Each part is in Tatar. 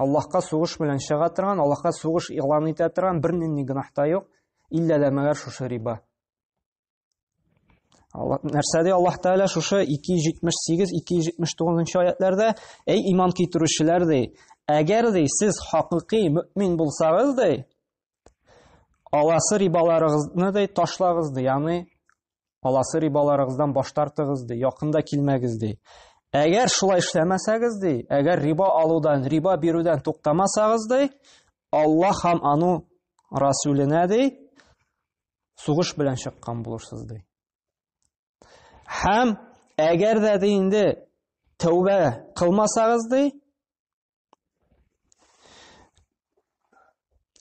Аллаһка сугыш белән чыга торган, Аллаһка сугыш игълан итә торган бер нинди гөнаһ та юк, иллә дә мәгәр шушы риба. Нәрсә ди Аллаһ Тәгалә шушы 278, 279 аятларда, әй иман китерүчеләр ди, әгәр ди сез хакыйкый мөмин булсагыз ди, аласы рибаларыгызны ди ташлагыз ди, ягъни Аласы рибаларыгыздан баш тартыгыз ди, якында килмәгез ди. Әгәр шулай эшләмәсәгез ди, әгәр риба алудан, риба бирүдән туктамасагыз ди, Аллаһ һәм ану Расүленә ди, сугыш белән чыккан булырсыз ди. Һәм әгәр дә ди инде тәүбә кылмасагыз ди,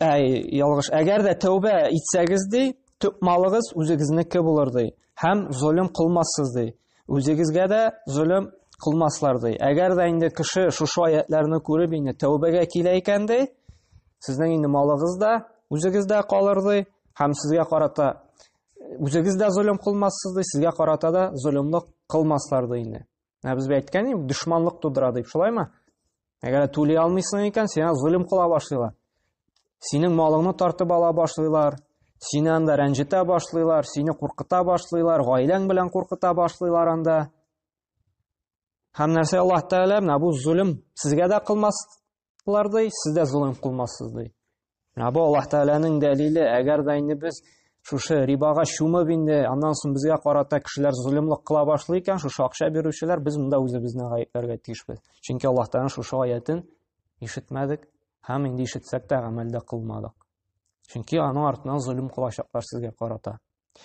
Әй, ялгыш. Әгәр дә тәүбә итсәгез ди, төп малыгыз үзегезнеке булыр ди. Һәм золым кылмассыз ди. Үзегезгә дә золым кылмаслар ди. Әгәр дә инде кеше шушы аятларны күреп инде тәүбәгә килә икән ди, сезнең инде малыгыз да үзегездә калыр ди, һәм сезгә карата үзегез дә золым кылмассыз ди, сезгә карата да золымлык кылмаслар ди инде. Ә без әйткән идек, дошманлык тудыра дип, шулаймы? Әгәр түли алмыйсың икән, сиңа золим кыла башлыйлар. Синең малыңны тартып ала башлыйлар, сине анда рәнҗетә башлыйлар, сине куркыта башлыйлар, гаиләң белән куркыта башлыйлар анда. Һәм нәрсә Аллаһ Тәгалә менә бу золим сезгә дә кылмас, Алар ди, сез дә золым кылмассыз ди. Ә бу Аллаһ Тәгаләнең дәлиле, әгәр дә инде без шушы рибага чумып инде, аннан соң безгә карата кешеләр золымлык кыла башлый икән, шушы акча бирүчеләр, без монда үзебезне гаепләргә тиешбез. Чөнки Аллаһ Тәгаләнең шушы аятен ишетмәдек һәм инде ишетсәк тә гамәлдә кылмадык. Чөнки аның артыннан золым кылачаклар сезгә карата.